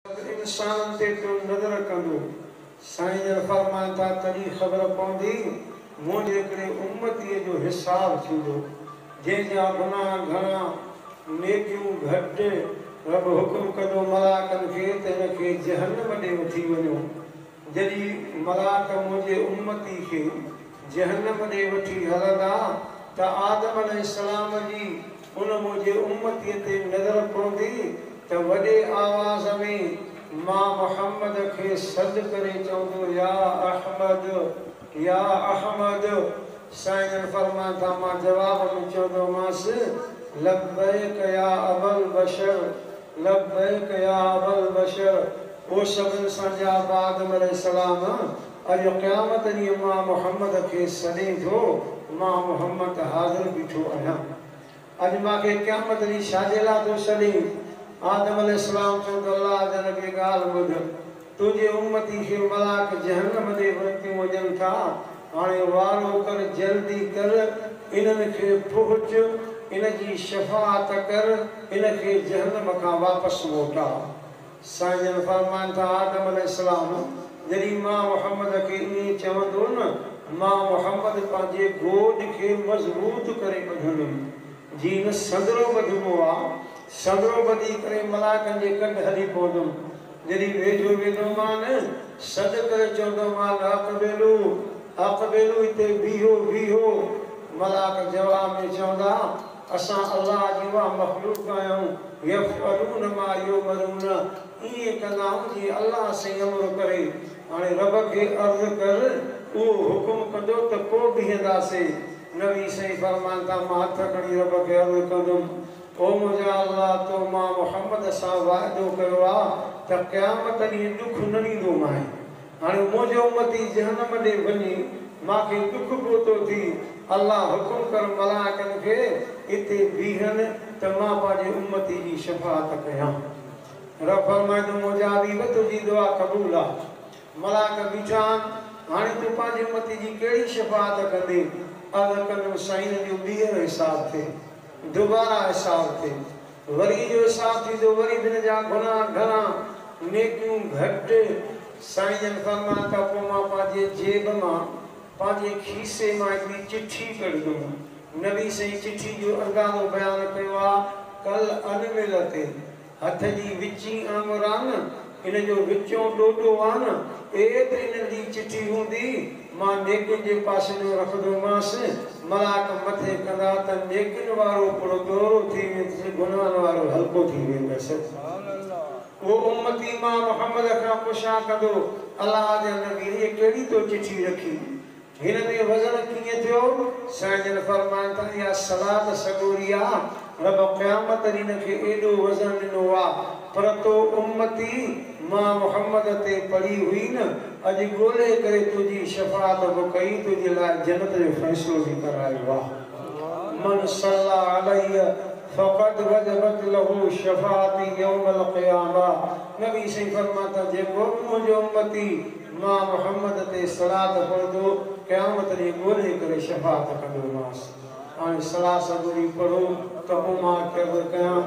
سڀ انسانن تي تون نظر ڪندو. سائين جن فرمائن ٿا تڏهن خبر پوندي منهنجي هڪڙي امتيء جو حساب ٿيندو جنهن جا گناهه گهڻا نيڪيون گهٽ رب حڪم ڪندو ملائڪن کي ته هن کي جهنم ڏي وٺي وڃو جڏهن ملاڪ منهنجي امتي کي جهنم ڏي وٺي هلندا ته آدم عليه السلام جي ان منهنجي امتي تي نظر پوندي ته وڏي آواز ۾ مان محمد کي سڏ ڪري چوندو يا احمد يا احمد سائين فرمان ٿا مان جواب ۾ چوندومانس لبيڪ يا ابالبشر لبيڪ يا ابالبشر هو سڀن سان جياپه آدم عليه السلام اڄ قيامت ڏينهن مان محمد کي سڏين ٿو مان محمد حاضر بيٺو آهيان اڄ مان کي قيامت ڏينهن ڇاجي لاء ٿو سڏين؟ آدم عليه السلام چيو ته الله جا نبي ڳالهه ٻڌ، تنهنجي امتي کي ملاڪ جهنم ڏي ورتيون وڃن ٿا، هاڻي وارو ڪر جلدي ڪر انهن کي پهچ، ان جي شفاعت ڪر، ان کي جهنم کان واپس موٽاء. سائين فرمائن ٿا آدم عليه السلام جڏهن مان محمد کي ائين چوندو نه مان محمد پنهنجي گوڏ کي مضبوط ڪري ٻڌندم جي نه سندرو ٻڌبو آ سندرو ٻڌي ڪري ملائڪن جي ڪنڊ هلي پوندم جڏهن ويجهو ويندو مان سڏ ڪري چوندو مان اقبلو اقبلو هتي بيهو بيهو ملائڪ جواب ۾ چوندا اسان الله جي اها مخلوق آهيون، يفعلون ما يؤمرون، ائين ڪندا آهيون جيئن الله سائين امر ڪري. هاڻي رب کي عرض ڪر، اهو حڪم ڪندو ته پوء بيهنداسي. نبي سائين فرمائن ٿا، مان هٿ کڻي رب کي عرض ڪندم، او منهنجا الله! تو مان محمد سان واعدو ڪيو آهي ته قيامت ڏينهن ڏک نه ڏيندومانء. هاڻي منهنجي امتي جهنم ڏي وڃي مان کي ڏک پهتو ٿي الله حڪم ڪر ملائڪن کي اتي بيهن ته مان پنهنجي امتي جي شفاعت ڪيان رب فرمائي ٿو مجابي به تنهنجي دعا قبول آ ملائڪ بيٺا آهن هاڻي تون پنهنجي امتي جي ڪهڙي شفاعت ڪندي عرض ڪندم سائين جو ٻيهر حساب ٿئي دوباره حساب ٿئي. وري اهو احساس ٿي جو وري به هن جا گناهه گهڻا، نيڪيون گهٽ. سائين جن فرمايو ته پوء مان پنهنجي جيب مان، پنهنجي کيسي مان هڪڙي چٺي ڪڍندم. نبي سائين چٺي جو اندازو بيان ڪيو آهي، ڪل انمل تي، هٿ جي وچين آڱران، ان جو وچون ڏوڏو آ نه، اي ته انهن جي چٺي هوندي، مان نيڪين جي پاسي جو رکندومانس، ملاڪ مٿي ڪندا ته نيڪين وارو پڙ ڳهرو ٿي ويندس، گناهن وارو هلڪو ٿي ويندس. اهو امتي مان محمد کان پڇا ڪندو، الله جا نبي، ايء ڪهڙي تو چٺي رکي؟ هن ۾ وزن ڪيئن ٿيو؟ سائين جن فرمايو ته اها صلات سڳوري آ، رب قيامت ڏينهن هن کي ايڏو وزن ڏنو آ، پر تو امتي مان محمد تي پڙهي هئي نه، اڄ ڳولي ڪري تنهنجي شفاعت به ڪئي، تنهنجي لاء جنت جو فيصلو به ڪرايو آ. من صلي عليّ فقد وجبت له شفاعتي يوم القيامة نبي سائين فرمايو ته جيڪو به منهنجو امتي، مان محمد تي صلات پڙهندو، قيامت ڏينهن ڳولي ڪري شفاعت ڪندومانس. هاڻي صلاح سڳوري پڙهو ته پوء مان ڪيرض ڪيان،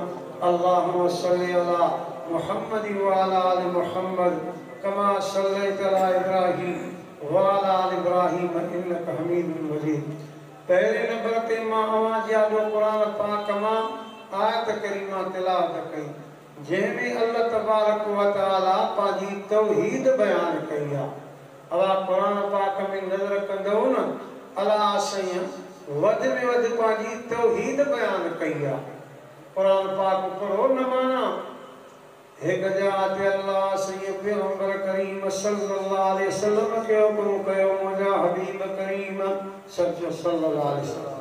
اللهم صل علي محمد وعلي آل محمد ڪما صليت علي ابراهيم وعلي آل ابراهيم انک حميد مجيد. پهرين نمبر تي مان اوهان جي آڏو قرآن پاڪ مان آيت ڪريمه تلاوت ڪئي. جنهن ۾ الله تبارڪ و تعالي پنهنجي توحيد بيان ڪئي آ. اوهان قرآن پاڪ ۾ نظر ڪندؤ نه الله سائين وڌ ۾ وڌ پنهنجي توحيد بيان ڪئي آ. قرآن پاڪ پڙهو نه معنيٰ هڪ جاء تي الله سائين پيغمبر ڪريم صلي الله عليه وسلم کي حڪم ڪيو منهنجا حبيب ڪريم سچو صلي الله عليه وسلم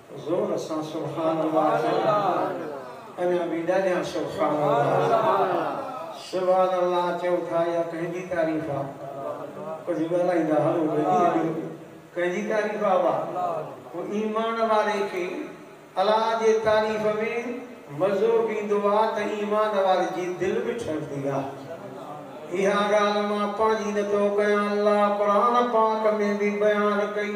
زور سان سبحان الله چئو اڃا به ڏاڍيان سبحان الله سبحان الله چئو ٿا اها ڪنهن جي تعريف آ ڪجهه ڳالهائيندا هلو ڀلي هليو ڪنهن جي تعريف آ اها هو ايمان واري کي الله جي تعريف ۾ مزو به ايندو آ ته ايمان واري جي دل به ٺرندي آ اها ڳالهه مان پنهنجي نه ٿو ڪيان الله قرآن پاڪ ۾ به بيان ڪئي.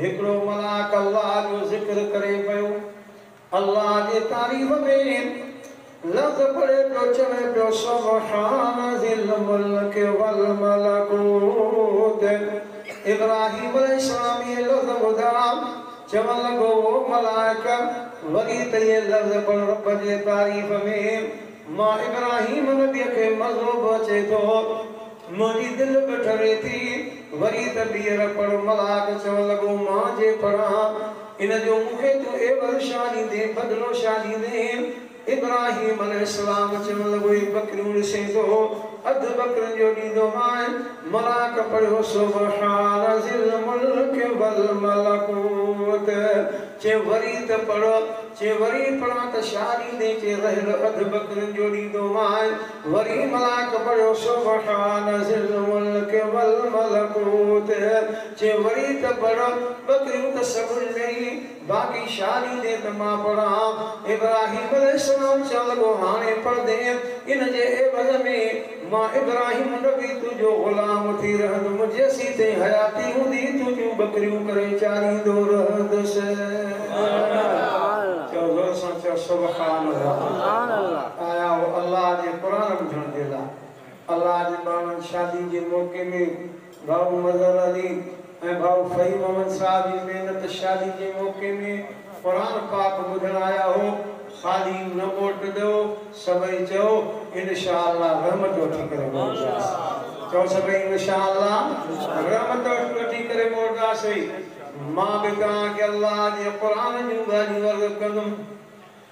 هڪڙو ملاڪ الله جو ذڪر ڪري پيو، الله جي تعريف ۾ لفظ پڙهي پيو، چوي پيو، سبحان ذي الملڪ والملڪوت. ابراهيم عليه السلام اهي لفظ ٻڌا، چوڻ لڳو، او ملائڪ! وري ته اهي لفظ پڙهه رب جي تعريف ۾، مان ابراهيم نبيء کي مزو به اچي ٿو. منهنجي دل به ٺري ٿي. وري ته ٻيهر پڙهه ملاڪ چوڻ لڳو، مان جي پڙهان ان جو مون کي تون عيوض شا ڏيندين، بدلو شا ڏيندين؟ ابراهيم عليه السلام چوڻ لڳو، هي ٻڪريون ڏسين ٿو، اڌ ٻڪرين جو ڏيندومانء. ملاڪ پڙهيو، سبحان ذي الملڪ والملڪوت. چي وري ته پڙهه. چي وري پڙهان ته شا ڏيندين؟ چي رهيل اڌ ٻڪرين جو ڏيندومانء. وري ملائڪ پڙهيو سبحان ذي الملڪ والملڪوت چي وري ته پڙهه ٻڪريون ته سگهن ڏئي باقي ڇا ڏيندين ته مان پڙهان ابراهيم عليه السلام چوڻ لڳو هاڻي پڙهندين ان جي عيوض ۾ مان ابراهيم نبي تنهنجو غلام ٿي رهندم جيسين تائين حياتي هوندي تنهنجون ٻڪريون ڪري چاريندو رهندس. سبحان الله چؤ زور سان چؤ سبحان الله. آيا هو الله جي قرآن ٻڌڻ جي لاء. الله جي ٻانهن شادي جي موقعي ۾ ڀائو مظهر علي ۽ ڀائو فهيم محمد صاحب جي محنت شادي جي موقعي ۾ قرآن پاڪ ٻڌڻ آيا هو خالي نه موٽدئو سڀئي چئو انشاء الله رحمت وٺي ڪري موٽداس چئو سڀئي انشاء الله رحمت وٺي ڪري موٽداسين مان به توهان کي الله جي قرآن جون ڳالهيون عرض ڪندم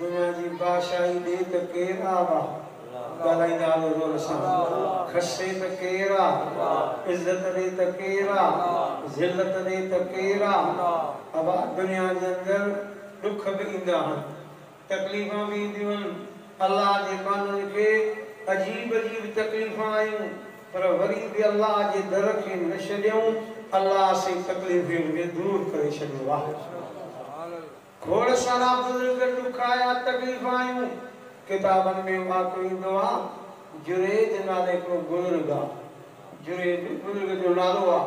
دنيا جي بادشاهي ڏي ته ڪير آ وا ڳالهائيندا آلو زور سان کسي ته ڪير آ عزت ڏي ته ڪير آ ذلت ڏي ته ڪير آ اوا دنيا جي اندر ڏک به ايندا هن تڪليفان به اينديون هن الله جي مانوي کي عجيب عجيب تڪليفان آيون پر وري به الله جي در کي نه ڇڏيون الله سي تڪليفين کي دور ڪري ڇڏيو آ. کوڙ سارا بزرگ ڏکايا تڪليف آيون ڪتابن ۾ واقعو ايندو آ جريج نالي ھڪڙو بزرگ آ جريج بزرگ جو نالو آ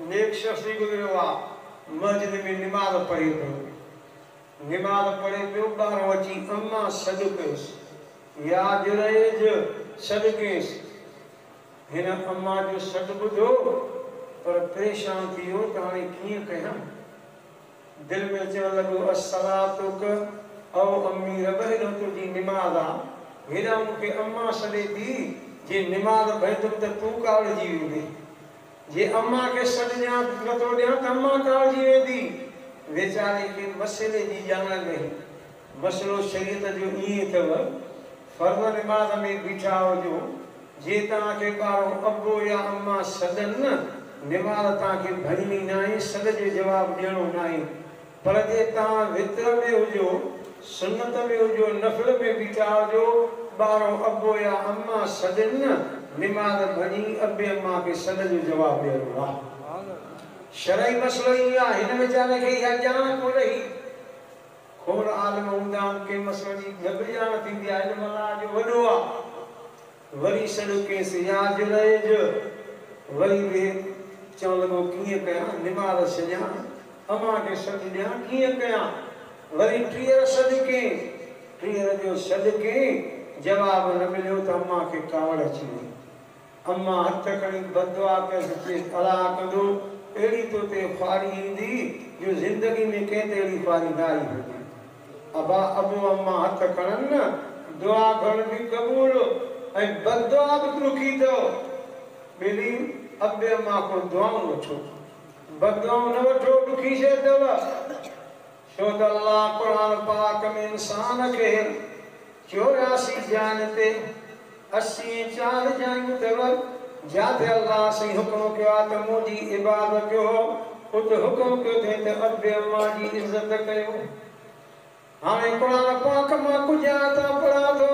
نيڪ شخص ٿي گذريو آ مسجد ۾ نماز پڙھي پيو نماز پڙھي پيو ٻاھرون اچي اما سڏ ڪيس يا جريج سڏ ڪيس ھن اما جو سڏ ٻڌو پر پريشان ٿي ويو ته ھاڻي ڪيئن ڪيان دل ۾ چوڻ لڳو الصلاتک او امي رب هيڏو تنهنجي نماز آ هيڏانهن مون کي امان سڏي ٿي جي نماز ڀڃندم ته تون ڪاوڙجي ويندين جي امان کي سڏ ڏيان نٿو ڏيان ته امان ڪاوڙجي ويندي ويچاري کي مسئلي جي ڄاڻ نه هئي مسئلو شريعت جو ائين اٿئو فرض نماز ۾ بيٺا هجو، جي توهان کي ڪارو ابو يا اما سڏن نه، نماز توهان کي ڀڃڻي ناهي، سڏ جو جواب ڏيڻو ناهي. پر جي توهان وتر ۾ هجو، سنت ۾ هجو، نفل ۾ بيٺا هجو، ٻارو ابو يا اما سڏين نه، نماز ڀڃي ابي اما کي سڏ جو جواب ڏيڻو آهي. شرعي مسئلو هي آهي، هن ويچاري کي اها ڄاڻ ڪونه هئي. کوڙ عالم هوندا آهن، ڪنهن مسئلي جي نه به ڄاڻ ٿيندي آهي، علم الله جو وڏو آ، وري سڏ ڪيس، يار جو رهيج، وري به چوڻ لڳو ڪيئن ڪيان، نمارس ڇڏيان، امان کي سڏ ڏيان، ڪيئن ڪيان، وري ٽيهر سڏ ڪين، ٽيهر جو سڏ ڪين، جواب نه مليو ته امان کي ڪاوڙ اچي وئي، امان هٿ کڻي بددعا ڪيس، چيس، الاء ڪندو اهڙي تو تي خواري ايندي جو زندگي ۾ ڪنهن تي اهڙي خواري نه آئي هجي. ابا ابو امان هٿ کڻن نه، دعا گهڻ به قبول ۽ بددعا به ڏکي اٿئو. ٻيلي ابي امان کان دعائون وٺو. بددعائون نه وٺو، ڏکي شيء اٿئو. ڇو ته الله قرآن پاڪ ۾ انسان کي چورياسي جاين تي اسي ۽ چار جايون اٿيو جاتي الله سائين حڪم ڪيو آهي ته منهنجي عبادت ڪيو اتي حڪم ڪيو اٿئين ته ادب اما جي عزت ڪيو هاڻي قرآن پاڪ مان ڪجهه آيتون پڙهان ٿو.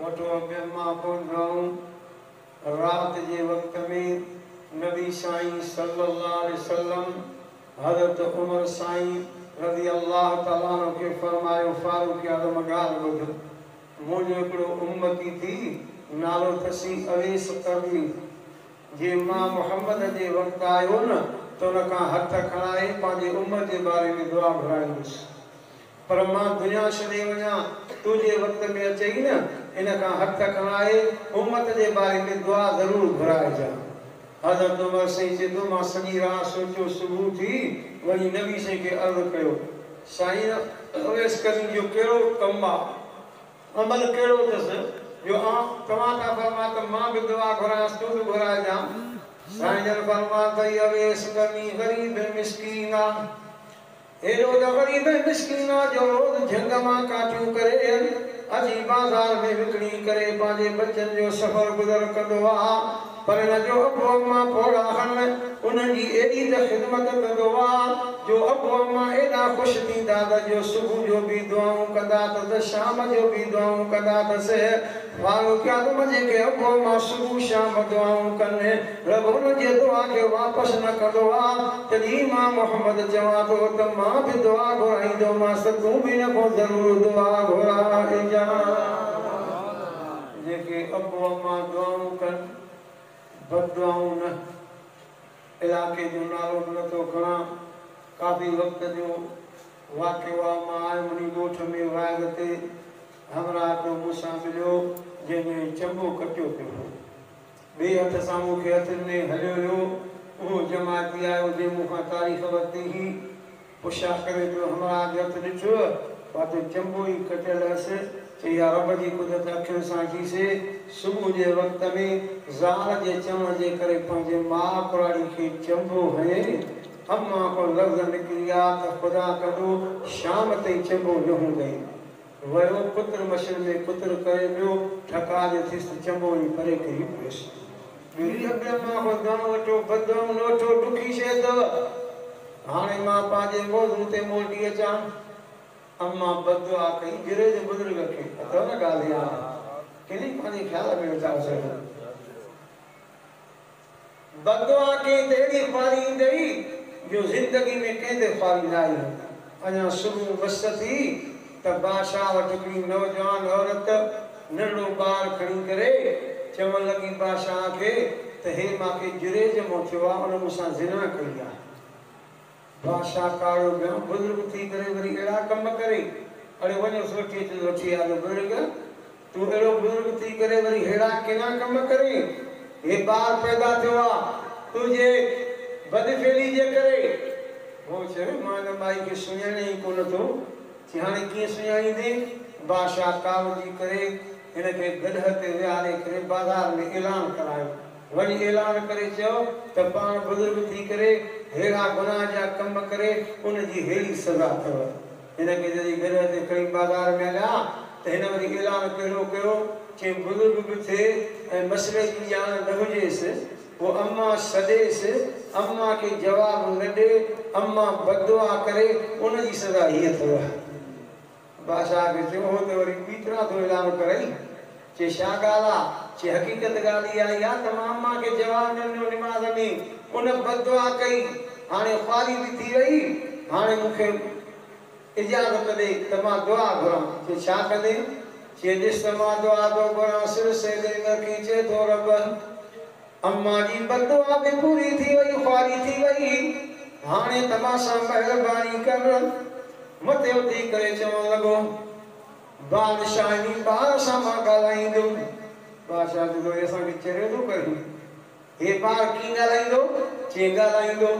وٺو اڳيان مان ڪون رهون. رات جي وقت ۾ نبي سائين صلي الله عليه وسلم حضرت عمر سائين رضي الله تعالٰي عنه کي فرمايو فاروق اعظم ڳالهه ٻڌ منهنجو هڪڙو امتي ٿي نالو تسي اويس قرني جي مان محمد جي وقت آيو نه ته ان کان هٿ کڻائي پنهنجي امت جي باري ۾ دعا گهرائينس پر مان دنيا ڇڏي وڃان، تنهنجي وقت ۾ اچي ئي نه، ان کان هٿ کڻائي امت جي باري ۾ دعا ضرور گهرائجان. حضرت عمر سائين چئي ٿو، مان سڄي رات سوچيو، صبح اٿي وڃي نبي سائين کي عرض ڪيو، سائين! اويس قرني جو ڪهڙو ڪم آ، عمل ڪهڙو اٿس، جو توهان ٿا فرمايو ته مان به دعا گهرانس، تون به گهرائجان. سائين جن فرمايو ته هي اويس قرني غريب ۽ مسڪين آ، ايڏو ته غريب ۽ مسڪين آ جو روز جهنگ مان ڪاٺيون ڪري اچي بازار ۾ وڪڻي ڪري پنهنجي بچن جو سفر گذر ڪندو آ پر هن جو ابو اما پوڙها هن انهن جي ايڏي ته خدمت ڪندو آ جو ابو اما ايڏا خوش ٿيندا ته جو صبح جو به دعائون ڪندا اٿس شام جو به دعائون ڪندا اٿس. فاروق اعظم جي ڪي اڳواڻ مان صبح شام دعائون ڪن، رب انهن جي دعا کي واپس نه ڪندو آ، تڏهن مان محمد چوان ٿو ته مان به دعا گهرائيندومانس ته تون به هن کان ضرور دعا گهرائجان. جيڪي اڳواڻ مان دعائون ڪن، بددعائون نه. علائقي جو نالو به نه ٿو کڻان، ڪافي وقت جو واقعو آ، مان آيم انهي ڳوٺ ۾ واعظ تي، همراهه ڪو مون سان مليو، جنهن جو هي چنبو ڪٽيو پيو هو. ٻئي هٿ سان مون کي هٿ ڏني هليو ويو. اهو جماعتي آيو، جنهن مون کان تاريخ ورتي هئي. پڇا ڪري پيو، همراهه کي هٿ ڏٺوء؟ پاتو چنبو ئي ڪٽيل هئس. چئي ها، رب جي قدرت اکين سان ڏٺيسي. صبح جي وقت ۾ زال جي چوڻ جي ڪري پنهنجي ماء ڪراڙي کي چنبو هنيائين. امان کان لفظ نڪري ويا ته خدا ڪڍو، شام تائين چنبو نه هوندئي. ويو ڪتر مشين ۾ ڪتر ڪري ويو ٺڪاء جو ٿيس ته چنبو وڃي پري ڪري پيس ڳري اڳيان مان ڪو دڻ وٺو ٻه دڻ لوٺو ڏکي شيء اٿو هاڻي مان پنهنجي موضوع تي موٽي اچان اما بددعا ڪئي گري جي بزرگ کي اٿو نه ڳالهه هاڻي ڪنهن پنهنجي خيال ۾ ويٺا هئسي بددعا ڪنهن تي اهڙي خواري ايندئي، جو زندگي ۾ ڪنهن تي خواري نه آئي هوندي. اڃا صبح مس ٿي ته بادشاهه وٽ هڪڙي نوجوان عورت ننڍڙو ٻار کڻي ڪري چوڻ لڳي بادشاهه کي ته هي مان کي جريج مون ٿيو آهي، ان مون سان زنا ڪئي آهي. بادشاهه ڪاڙو ڄڻ بزرگ ٿي ڪري وري اهڙا ڪم ڪري، اڙي وڃوس وٺي اچوس وٺي آ جو بزرگ تون اهڙو بزرگ ٿي ڪري وري ههڙا ڪنا ڪم ڪرين، هي ٻار پيدا ٿيو آ تنهنجي بدفعلي جي ڪري. هو چيو مان هن مائي کي سڃاڻيان ئي ڪونه ٿو، چي هاڻي ڪيئن سڃاڻيندين؟ بادشاهه ڪاوڙجي ڪري هن کي گڏهه تي ويهاري ڪري بازار ۾ اعلان ڪرايو. وڃي اعلان ڪري چئو ته پاڻ بزرگ ٿي ڪري ههڙا گناهه جا ڪم ڪري ان جي ههڙي سزا اٿئو. هن کي جڏهن گرهه تي کڻي بازار ۾ هليا ته هن وري اعلان ڪهڙو ڪيو چيم بزرگ به ٿئي ۽ مسئلي جي ڄاڻ نه هجيس پوء امان سڏيس امان کي جواب نه ڏي امان بددعا ڪري ان جي سزا هيء اٿئو. بادشاهه کي ٿيو هو ته وري ٻي طرح ٿو اظهار ڪرئي. چي شا ڳالهه آ؟ چي حقيقت ڳالهه اها ئي آ ته مان اما کي جواب نه ڏنو، نماز ۾ ان بد دعا ڪئي، هاڻي خواري به ٿي وئي، هاڻي مون کي اجازت ڏي ته مان دعا گهران. چي ڇا ڪندين؟ چي ڏس ته مان دعا ٿو گهران، سر سيدي ۾ رکي چئي ٿو، ربّ! امان جي بددعا به پوري ٿي وئي خواري ٿي وئي هاڻي ته مان سان مهرباني ڪر مٿي اٿي ڪري چوڻ لڳو بادشاهه انهي ٻار سان مان ڳالهائيندم بادشاهه چيو هي اسان کي چهريو ٿو ڪري هي ٻار ڪيئن ڳالهائيندو چيئن ڳالهائيندو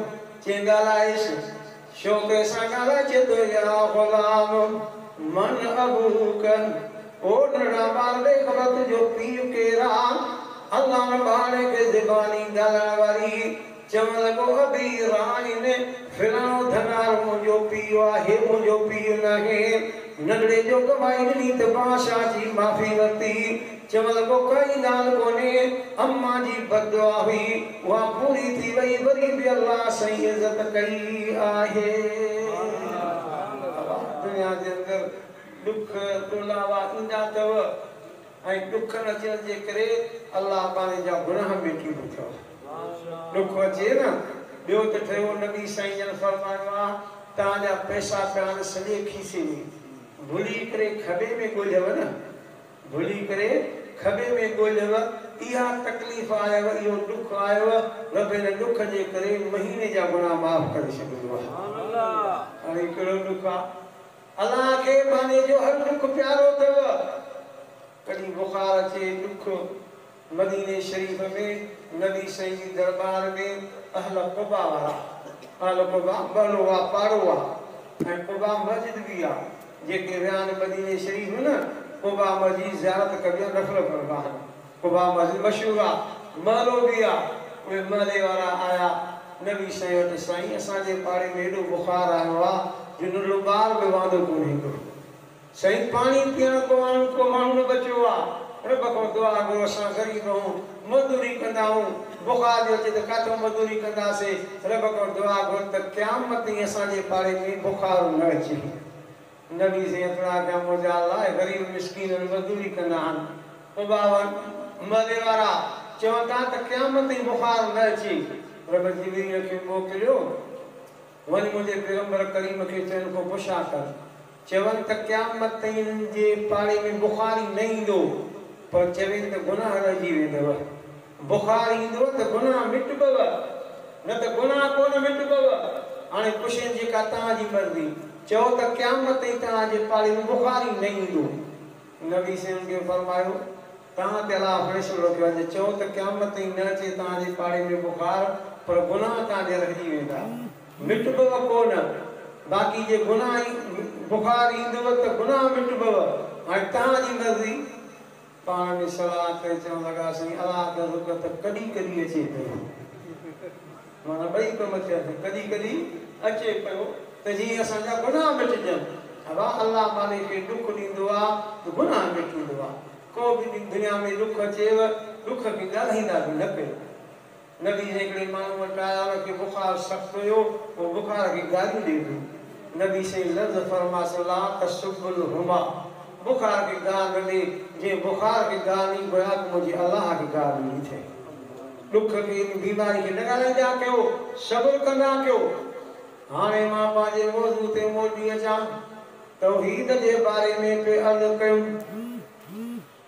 چيئن ڳالهائيس. شوق سان نه رچد يا غلام من ابوک او نڙا ٻار ڏيک به تنهنجو پيء ڪير آ؟ علان ٻارڙي کي زباني ڳالهائڻ واري چوڻ لڳو ابي رائن فلاڻو ڌنار منهنجو پيء آ هي منهنجو پيء ناهي ننڍڙي جو گواهي ڏني ته بادشاهه جي معافي ورتي. چيڻ لڳو ڪائي ڳالهه ڪونهي امان جي بددعا هئي اها پوري ٿي وئي وري به الله سائين عزت ڪئي آهي بابا دنيا جي اندر ڏک ڏولاوا ايندا اٿو ۽ ڏکن اچڻ جي ڪري الله پاڻي جا گناهه ميٽي وٺيو ڏک اچي نه ٻيو ته ٺهيو نبي سائين جن فرمايو آ تان جا پئسا پيا آهن سڄي کيسي ۾ ڀلي ڪري کٻي ۾ ڳولهيو نه گهلي ڪري کٻي ۾ ڳوليو، اها تڪليف آيو، اهو ڏک آيو، رب ان ڏک جي ڪري مهيني جا گناهه معاف ڪري ڇڏيندو آهي. هاڻ هي ڪهڙو ڏک آ؟ الله کي مانيء جو هر ڏک پيارو اٿئو. ڪڏهن بخار اچي، ڏک. مديني شريف ۾ نبي سائين جي درٻار ۾ اهل قباء وارا، اهل قباء ٻهروآ پاڙو آ ۽ قباء مسجد به آ، جيڪي ويا آهن مديني شريف نه قباء مسجد جي زيارت ڪبي آ نفل پڙهبا آهن. قباء مسجد مشهور آ، محلو به آ، اهي محلي وارا آيا نبي سائين وٽ سائين اسان جي پاڙي ۾ ايڏو بخار آيو آ جو ننڍڙو ٻار به واندو ڪونه ايندو. سائين پاڻي پيئڻ ڪو آڻون ڪو ماڻهو نه بچيو آ رب کان دعا گهرو اسان غريب اهون مزدوري ڪندا اهون بخار جو اچي ته ڪاٿو مزدوري ڪنداسي رب کان دعا گهر ته قيامت تائين اسان جي پاڙي ۾ بخار نه اچي نبي سائين اترا ڪيا موجا الله اهي غريب مسڪين هن مزدوري ڪندا آهن پو باور محلي وارا چون ٿا ته قيامت تائين بخار نه اچي رب جبريل کي موڪليو وڃ منهنجي پيغمبر ڪريم کي چئن ڪو پڇا ڪر. چون ته قيامت تائين انهن جي پاڙي ۾ بخار ئي نه ايندو، پر چوين ته گناهه رهجي ويندؤ. بخار ايندؤ ته گناهه مٽبؤ، نه ته گناهه ڪو نه مٽبؤ. هاڻي پڇين جيڪا توهان جي مرضي، چئو ته قيامت تائين توهان جي پاڙي ۾ بخار ئي نه ايندو. نبي صلعم کي فرمايو، توهان تي الله فيصلو رکيو آهي ته چئو ته قيامت تائين نه اچي توهان جي پاڙي ۾ بخار، پر گناهه توهان جا رهجي ويندا. مٽبوء ڪو نه، باقي جي گناهه ۽ بخار ايندوء ته گناهه مٽبوء. هاڻي توهان جي مرضي. پاڻ ۾ صلاح ڪري چوڻ لڳا، سائين الا اگر رڳ ته ڪڏهن ڪڏهن اچي پيو. معنيٰ ٻئي ڪم ٿيا ته ڪڏهن ڪڏهن اچي پيو ته جيئن اسان جا گناهه مٽجن. ابا الله مالڪ کي ڏک ڏيندو آ ته گناهه مٽيندو آ. ڪو به ڏينهن دنيا ۾ ڏک اچيو، ڏک کي ڳالهائيندا به نه ڪيو. نبي جي هڪڙي ماڻهو وٽ آيا ان کي بخار سخت هيو هو بخار کي گاريون ڏئي پيو نبي سائين لفظ فرما صلي لا تسبوا الهما بخار کي گار نه ڏي جنهن بخار کي گار ڏني گويا ته منهنجي الله کي گار ڏني اٿئي ڏک ۾ ان بيماري کي نه ڳالهائيندا ڪيو صبر ڪندا ڪيو هاڻي مان پنهنجي موضوع تي موٽي اچان توحيد جي باري ۾ پئي عرض ڪيم.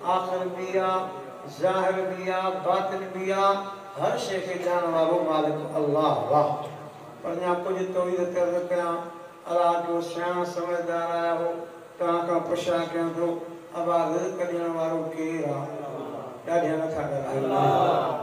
آخر به آ، ظاهر به آ، باطن به آ، هر شيء کي ڄاڻڻ وارو مالڪ الله آ. پر اڃا ڪجهه توحيد تي عرض ڪيان. الله جو سياڻو سمجهدار آيا هو، توهان کان پڇا ڪيان ٿو، ابا رزق ڏيڻ وارو ڪير آ؟ ڏاڍيان نٿا ڳالهايو.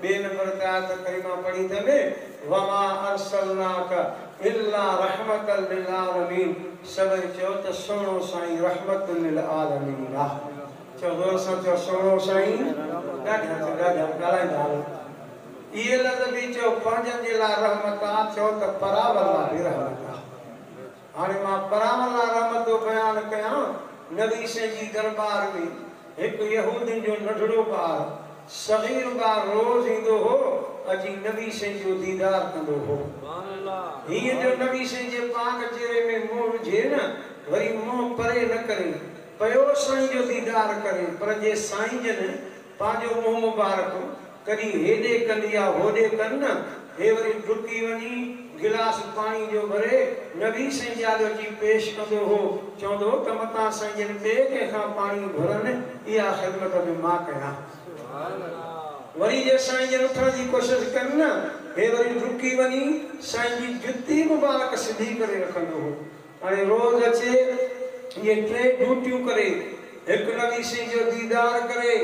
ٻئي نمبر تي آيت ڪريمه پڙهي ته ۾ وما ارسلناک الا رحمة للعالمين سڀئي چيو ته سهڻو سائين رحمة للعالمين آ چئو زور سان چئو سهڻو سائين ڏاڍيا چئو ڏاڍيا ڳالهائيندا هلو اهي لفظ به چئو پنهنجن جي لاء رحمت آ چئو ته پراون لاء به رحمت آ. هاڻي مان پراون لا رحمت جو بيان ڪيان، نبي سائين جي درٻار ۾ هڪ يهودين جو ننڍڙو ٻار، صغير ٻار روز ايندو هو، اچي نبي سائين جو ديدار ڪندو هو. هيئن جو نبي سائين جي پاڪ چهري ۾ منهن وجهي نه وري منهن پري نه ڪرين، پيو سائين جو ديدار ڪرين، پر جي سائين جن پنهنجو منهن مبارڪ ڪڍي هيڏي ڪن يا هوڏي ڪن نه، هي وري ڊڪي وڃي گلاس پاڻي جو ڀري نبي سائين جي آڏو اچي پيش ڪندو هو، چوندو هو ته متان سائين جن ٻئي ڪنهن کان پاڻي گهرن، اها خدمت به مان ڪيان. وري جي سائين جن اٿڻ جي ڪوشش ڪن نه، هي وري ڊڪي وڃي سائين جي جتي مبارڪ سڌي ڪري رکندو هو. هاڻي روز اچي اهي ٽي ڊيوٽيون ڪري، هڪ نبي سائين جو ديدار ڪري،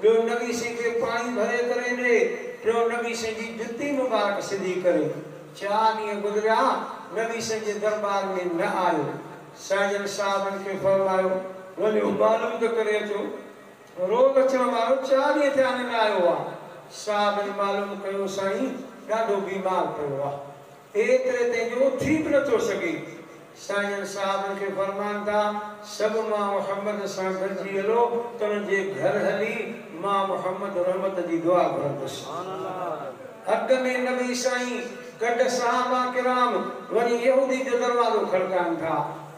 ٻيو نبي سائين کي پاڻي ڀري ڪري ڏي، ٽيون نبي سائين جي جتي مبارڪ سڌي ڪري. چار ڏينهن گذريا، نبي سائين جي درٻار ۾ نه آيو. سائينجن صاحبن کي فرمايو، وڃو معلوم ته ڪري اچو. روز اچڻ وارو چار ڏينهن ٿيا اڃا نه آيو آ. صاحبن معلوم ڪيو، سائين ڏاڍو بيمار پيو آ. ايتري تائين جو هو ٿي به نه ٿو سگهي. سائين صاحبن کي فرمائن ٿا، سڀ مان محمد سان گڏجي هلو ته انهن جي گهر هلي مان محمد رحمت جي دعا گهرندس. اڳ ۾ نبي سائين گڏ صحابه ڪرام وڃي يهودي جو دروازو کڙڪائن ٿا.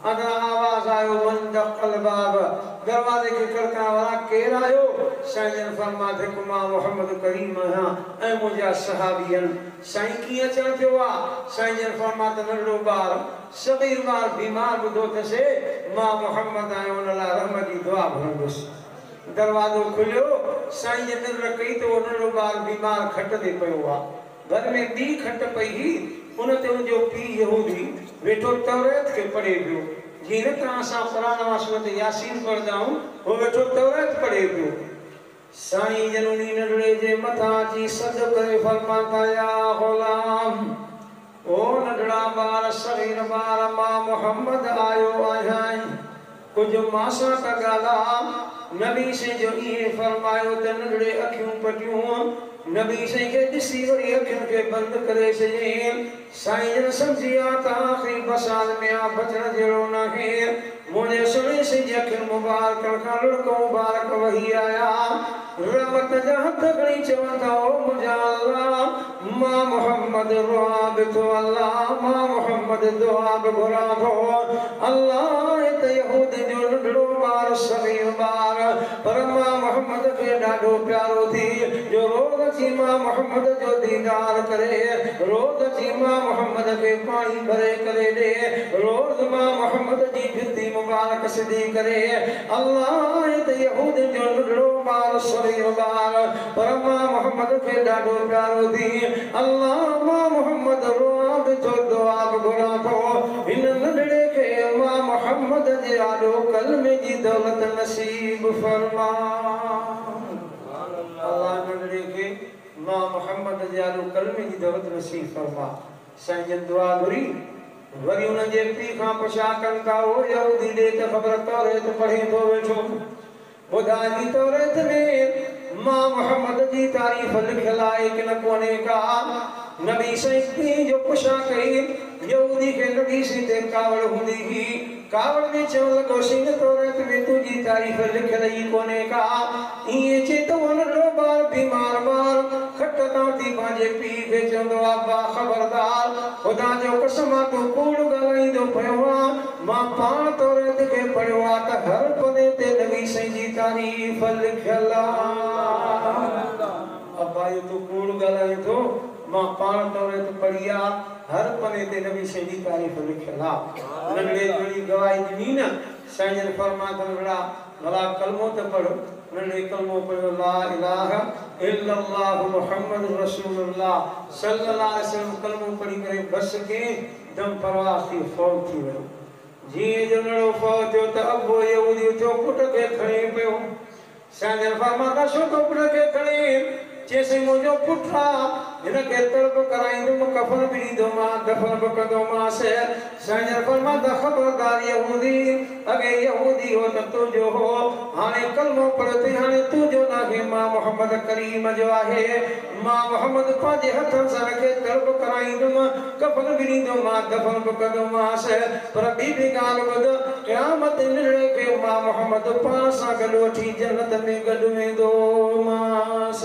اندران آواز آيو من دق الباب دروازي کي کڙڪڻ وارا ڪير آهيو؟ سائين جن فرمايو ٿهڪ مان محمد ڪريم آهيان ۽ منهنجا صحابي آهن. سائين ڪيئن اچڻ ٿيو آ؟ سائين جن فرمايو ته ننڍڙو ٻار صغير مار بيمار ٻڌو ٿس اي ماء محمد آئون ان لاء رحمت جي دعا گهرندس. دروازو کليو سائين جن نظر ڪئي ته اهو ننڍڙو ٻار بيمار کٽ تي پيو آ. ڀر ۾ ٻي کٽ پئي هئي ان تي ان جو پيء يهودي ويٺو توريت کي پڙهي پيو. جيئن نه ته اسان قرآن مان سورت ياسين پڙهندا آهيون اهو ويٺو توريت پڙهي پيو. سائين جن انهي ننڍڙي جي مٿان اچي سڏ ڪري فرمان ٿا يا غلام! او ننڍڙا ٻار صغير ٻار مان محمد آيو آهيان ڪجهه مان سان ته ڳالهاء نبي سائين جو اهي فرمايو ته ننڍڙي اکيون پٽيون نبي سائين کي ڏسي وري اکين کي بند ڪري ڇڏيائين سائين جن سمجهي آ ته آخري ٻه سال ۾ آ بچڻ جهڙو ناهي. منهنجي سهڻي سنڌي اکين مبارڪن کان لڙڪ مبارڪ وهي آيا. رحمت جا هٿ کڻي چون ٿا او منهنجا الله مان محمد روئان به ٿو الله مان محمد دعا به گهران ٿو الله آهي ته يهودين جو ننڍڙو ٻار صغير ٻار پر مان محمد کي ڏاڍو پيارو ٿي جو روز اچي مان محمد جو ديدار ڪري روز اچي مان محمد کي پاڻي ڀري ڪري ڏي روز مان محمد جي جتي مبارڪ سڌي ڪري الله آهي ته يهودين جو ننڍڙو ٻار سوين ٻار پر مان محمد کي ڏاڍو پيارو ٿي الله مان محمد روئان ٿي ٿو دعا به گهران ٿو هن ننڍڙي کي مان محمد جي آڏو ڪلمي جي دولت نصيب فرما الله ننڍڙي کي مان محمد جي آڏو ڪلمي جي دولت نصيب فرما سائين جن دعا گهري وري انهن جي پيء کان پڇا ڪن ڪا اهو يهودي ڏي ته خبر توريت پڙهين ٿو ويٺو ٻڌائي توريت ۾ مان محمد جي تعريف لکيل آهي ڪي نه ڪونهي ڪا نبي سائين پيء جو پڇا ڪئي يهودي کي نبي سائين تي ڪاوڙ هوندي هئي ڪاوڙ ۾ چوڻ لڳو سائين توريت ۾ تنهنجي تعريف لکيل ئي ڪونهي ڪا ائين چئي ته اهو ننڍڙو ٻار بيمار ٻار کٽ تان اٿي پنهنجي پيء کي چوندو آهي ابا خبردار خدا جو قسم آ تون ڪوڙ ڳالهائيندو پيو آهين. مان پاڻ توريت کي پڙهيو آ ته هر پني تي نبي سائين جي تعريف لکيل آ. ابائي تون ڪوڙ ڳالهائين ٿو مان پاڻ توريت پڙهي آ هر پني تي نبي سائين جي تعريف لکيل آ. ننڍڙي جوڻي گواهي ڏني نه سائين جن فرمان ڪن وڙها ڀلا ڪلمو ته پڙهه ننڍڙي ڪلمو پڙهيو لا اله الا الله محمد رسول الله صلي الله عليه وسلم ڪلمو پڙهي ڪري بس ڪين دم پرواز ٿي فوت ٿي ويو. جيئن جو نڙو فوت ٿيو ته ابو يهودي اٿيو پٽ کي کڻي پيو. سائين جن فرمان ڪا شوڪ پٽ کي کڻي چيس هي منهنجو پٽ آ هن کي تڙپ ڪرائيندم ڪفن به ڏيندومانس دفن به ڪندومانس. سائين جن فرمان ڪا خبردار يهودي! اڳي يهودي هو ته تنهنجو هو، هاڻي ڪلمو پڙهيو اٿئي، هاڻي تنهنجو ناهي، مان محمد ڪريم جو آهي. مان محمد پنهنجي هٿن سان ان کي در به ڪرائيندم، ڪفن به ڏيندومانس، دفن به ڪندومانس، پر ٻي به ڳالهه ٻڌ، قيامت تي نرڙي کي مان محمد پاڻ سان گڏ وٺي جنت ۾ گڏ ويندومانس.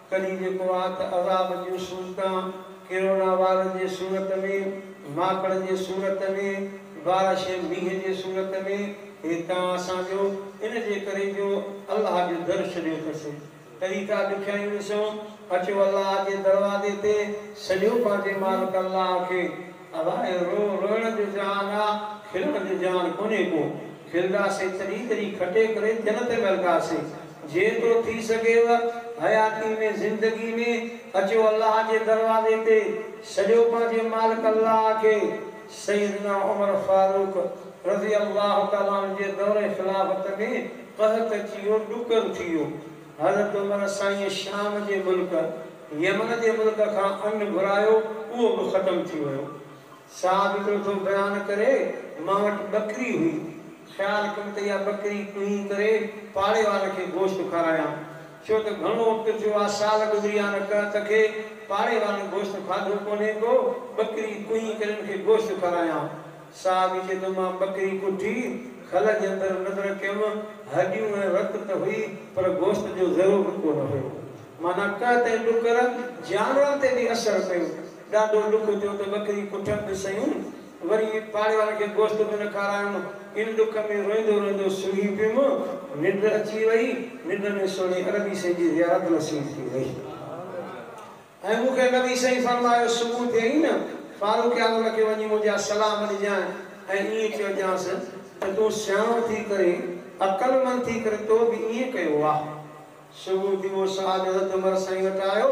ڪلي جيڪو آ ته عذاب جون صورتان ڪرونا وار جي صورت ۾، ماڪڙ جي صورت ۾، بارش ۽ مينهن جي صورت ۾، هي تان اسان جو ان جي ڪري جو الله جو در ڇڏيو اٿس. ڪلي ٿا ڏکيائيون ڏسون، اچو الله جي دروازي تي سڏيو پنهنجي مالڪ الله کي. ادا اهو رو روئڻ جو جهان آ کلڻ جو جهان ڪونهي ڪو کلداسين تڏهين تڏهين کٽي ڪري دل تي ملداسين جيترو ٿي سگهيو حياتي ۾ زندگي ۾ اچو الله جي دروازي تي سڏيو پنهنجي مالڪ الله کي سيدنا عمر فاروق رضي الله تعالٰي عنه جي دور خلافت ۾ قحط اچي ويو ڏڪر ٿي ويو حضرت عمر سائين شام جي ملڪ يمن جي ملڪ کان ان گهرايو اهو به ختم ٿي ويو. صاحب هڪڙو ٿو بيان ڪري، مان وٽ ٻڪري هئي، خيال ڪيم ته اها ٻڪري ڪنهين ڪري پاڙي وارن کي گوشت کارايان، ڇو ته گهڻو وقت ٿيو آ، سال گذري ويا آهن ڪه ته کي پاڙي وارن گوشت کاڌو ڪونهي ڪو، ٻڪري ڪنهين ڪري ان کي گوشت کارايان. صاحب چئي ٿو مان ٻڪري ڪٺي، کل جي اندر نظر ڪيم، هڏيون ۽ رت ته هئي پر گوشت جو ذرو به ڪونه هيو. معنيٰ قحط ۽ ڏڪر جانورن تي به اثر پيو. ڏاڍو ڏک ٿيو ته ٻڪري ڪٺڻ به سهيون، وري پاڙي وارن کي گوشت به نه کارايم. ان ڏک ۾ روئيندو روئيندو سمهي پيم. ننڊ اچي وئي. ننڊ ۾ سهڻي عربي سائين جي زيارت نصيب ٿي وئي ۽ مون کي نبي سائين فرمايو صبح ٿئي نه فاروق اعظم کي وڃي منهنجا سلام ڏجانء ۽ ائين چئجانس ته تون سياڻو ٿي ڪري، عقلمند ٿي ڪري تو به ائين ڪيو آ. صبح ٿيو، شاهه ڏهه عمر سائين وٽ آيو،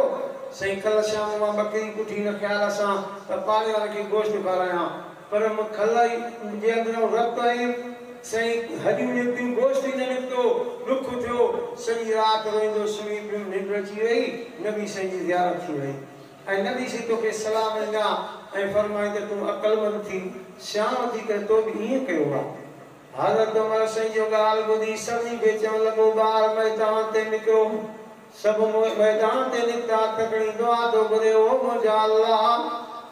سائين ڪلهه شام مان ٻڪري ڪڍي ان خيال سان ته پاڙيوال کي گوشت کارايان، پر م کلهه جي اندرئون رت ۽ سائين هڏيون نڪتيون گوشت ئي نه نڪتو، ڏک ٿيو، سڄي رات روئيندو سمهي پيم، ننڊ اچي وئي، نبي سائين جي زيارت ٿي وئي ۽ نبي سائين توکي سلام ڏنا ۽ فرمائين ته تون عقلمند ٿي، سياڻو ٿي ڪري تو به ائين ڪيو آ. حضرت عمر سائين جو ڳالهه ٻڌي سڀني کي چوڻ لڳو ٻار ميدان تي نڪرو. سڀ ميدان تي نڪتا هٿ کڻي دعا ٿو گهري او منهنجا الله!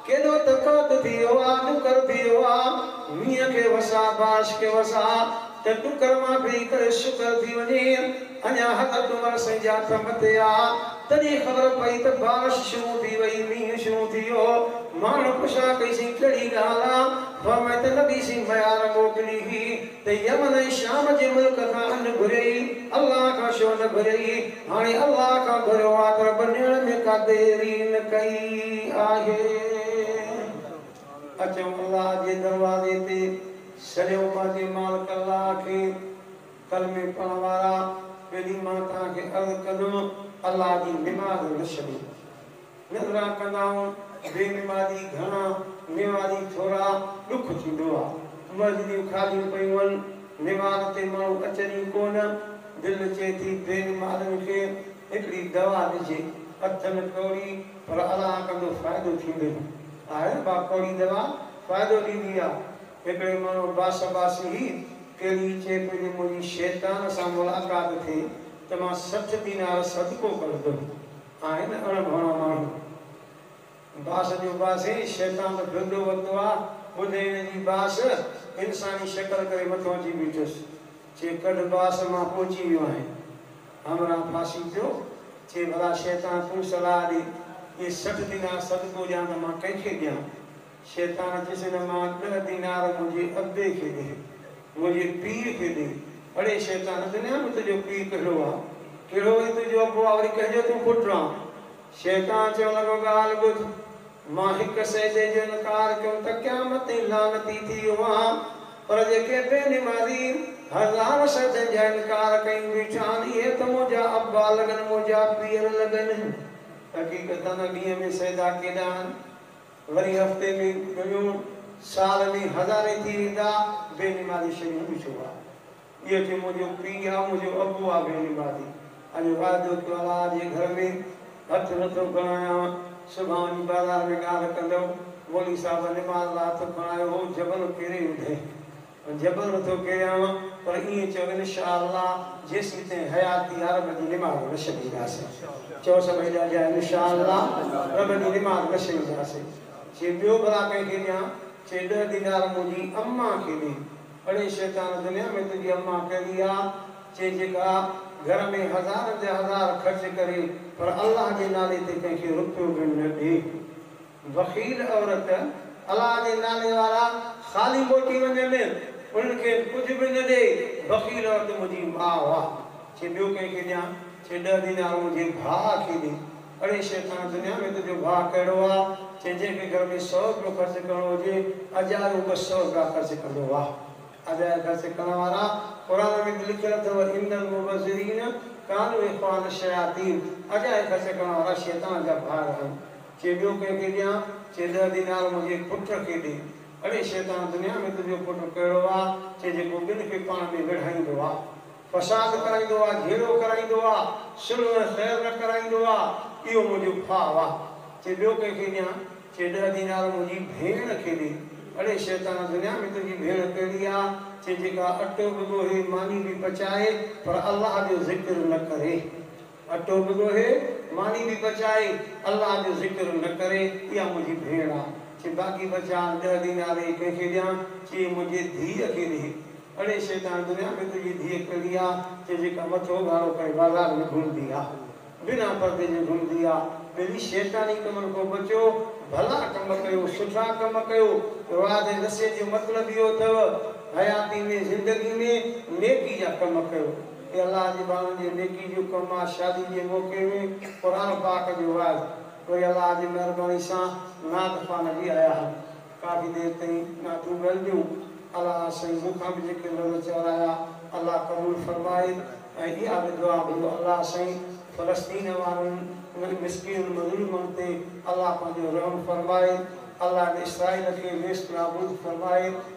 ڪيڏو تقحط ٿي ويو آ، ڏڪر ٿي ويو آ، مينهن کي وساء، بارش کي وساء ته ڏڪر مان ڦري ڪري شڪر ٿي وڃي. اڃا حضرت عمر سائين جا هٿ مٿي آ تڏهن خبر پئي ته بارش شروع ٿي وئي، مينهن شروع ٿي ويو. ماڻهن پڇا ڪئي سائين ڪهڙي ڳالهه آ؟ فرمائي ته نبي سائين ميار موڪلي هئي ته يمن ۽ شام جي ملڪ کان ان گهريئي، الله کان ڇو نه گهريئي؟ هاڻي الله کان گهريو آ ته رب ڏيڻ ۾ ڪا دير ئي نه ڪئي آهي. اچو الله جي دروازي تي سڏيو پنهنجي مالڪ الله کي. ڪلمي پڙهڻ وارا پهرين مان توهان کي عرض ڪندم الله جي نماز نه ڇڏيو نذرا ڪندائون بي نمازي گهڻا نوازي ٿورا ڏک ٿيندو آ مسجديون خاليون پيون هن نماز تي ماڻهو اچن ئي ڪونه دل چئي ٿي بي نمازن کي هڪڙي دوا ڏجي اٿن ڪوڙي پر الله ڪندو فائدو ٿيندو ئي آهي با ڪوڙي دوا فائدو ڏيندي آ هڪڙي ماڻهو باس عباسي هي، ڪيڏي چئي پيو جي منهنجي شيطان سان ملاقات ٿئي ته مان سٺ دينار صدقو ڪرندم. آهن اڻ ڀڻا ماڻهو. باس جو باسي، شيطان ته ڦرندو وتو آ، ٻڌ هن جي باس، انساني شڪل ڪري مٿو اچي بيٺس. چي ڪڍ باس مان پهچي ويو آهيان. همراهه ڦاسي پيو. چي ڀلا شيطان تون صلاح ڏي، جي سٺ دينار صدقو ڏيان ته مان ڪنهن کي ڏيان؟ شيطان چيس هن مان ڏهه دينار منهنجي ابي کي ڏي، منهنجي پيء کي ڏي. اڙي شيطان اڃا به تنهنجو پيء ڪهڙو آ؟ ڪهڙو وري تنهنجو ابو آ، وري ڪنهن جو تون پٽ آن؟ شيطان چوڻ لڳو ڳالهه ٻڌ، مان هڪ سجدي جو انڪار ڪيم ته قيامت تائين لعنتي ٿي ويو آهيان، پر جيڪي بي نمازي هزار سجدن جا انڪار ڪيون بيٺا آهن، اهي ته منهنجا ابا لڳن، منهنجا پيئر لڳن. حقيقتاً ڏينهن ۾ سجدا ڪيڏا آهن؟ وري هفتي ۾ ڪيون، سال ۾ هزارين ٿي ويندا، بي نمازي شريون به ڇو آ؟ اهو چي منهنجو پيء آ، منهنجو ابو آ بي نمازي، اڄ واعدو ڪيو الله جي گهر ۾ هٿ نٿو کڻايانء، صبح وڃي بازار ۾ ڳالهه ڪندم، مولوي صاحب نماز لاء هٿ کڻايو هو، جبل ڪيري وڌين. جبر ٿو ڪيانء پر ائين چئو انشاء الله جيسين تائين حياتي آ رب جي نماز نه ڇڏينداسين چئو سڀئي ڏاڍيا انشاء الله رب جي نماز نه ڇڏينداسين چي ٻيو ڀلا ڪنهن کي ڏيان چي ڏهه دينار منهنجي اما کي ڏي اڙي شيطان دنيا ۾ تنهنجي اما ڪهڙي آ چي جيڪا گهر ۾ هزارن جا هزار خرچ ڪري پر الله جي نالي تي ڪنهن کي رپيو به نه ڏي بخيل عورت الله جي نالي وارا خالي موٽي وڃن انهن کي ڪجهه به نه ڏي بخيل عورت منهنجي ماء واهه چي ٻيو ڪنهن کي ڏيان چي ڏهه دينار منهنجي ڀاء کي ڏي اڙي شيطان دنيا ۾ تنهنجو ڀاء ڪهڙو آ چي جنهن کي گهر ۾ سؤ رپيو خرچ ڪرڻو هجي اجايو ٻه سؤ رپيا خرچ ڪندو واهه اجايا خرچ ڪرڻ وارا قرآن ۾ ته لکيل اٿو ان المبذرين ڪانوا اخوان الشياطين اجايا خرچ ڪرڻ وارا شيطان جا ڀائر آهن. چيڀيو ڪنهن کي ڏيان؟ چي ڏهه دينار منهنجي پٽ کي ڏي. اڙي شيطان دنيا ۾ تنهنجو پٽ ڪهڙو آ، چي جيڪو ٻن کي پاڻ ۾ وڙهائيندو آ. فساد ڪرائيندو آ، جهيڙو ڪرائيندو آ، صلح ۽ خير نه ڪرائيندو آ. اهو منهنجو ڀاء آ. چي ٻيو ڪنهن کي ڏيان؟ چي ڏهه دينار منهنجي ڀيڻ کي ڏي. اڙي شيطان دنيا ۾ تنهنجي ڀيڻ ڪهڙي آ، چي جيڪا اٽو به ڳوهي، ماني به پچائي، پر الله جو ذڪر نه ڪري. اٽو به ڳوهي، ماني به پچائي، الله جو ذڪر نه ڪري، اها منهنجي ڀيڻ آ. چي باقي بچا ڏهه دينار اهي ڪنهن کي ڏيان؟ چي اهي منهنجي ڌيء کي ڏي. اڙي شيطان، دنيا ۾ تنهنجي ڌيء ڪهڙي آ، چي جيڪا مٿو اگهاڙو ڪري بازار ۾ گهمندي آ. بنا پردي جي گهمندي آ. ٻلي شيطاني ڪمن کان بچو، ڀلا ڪم ڪيو، سٺا ڪم ڪيو. وعظ ۽ نصيحت جو مطلب اهو اٿئو، حياتي ۾ زندگي ۾ نيڪي جا ڪم ڪيو. اي الله جي ماڻهن جي نيڪي جو ڪم آ شادي جي موقعي ۾ قرآن پاڪ جو وعظ پوء الله جي مهرباني سان نعت خوان هلي آيا هن ڪافي دير تائين نعتون ڳائينديون الله سائين مون کان به جيڪي لفظ چورايا الله قبول فرمائي ۽ اها به دعا گهريو الله سائين فلسطين وارن انهن مسڪينن مظلومن تي الله پنهنجو رحم فرمائي الله ان اسرائيل کي نيست نابود فرمائي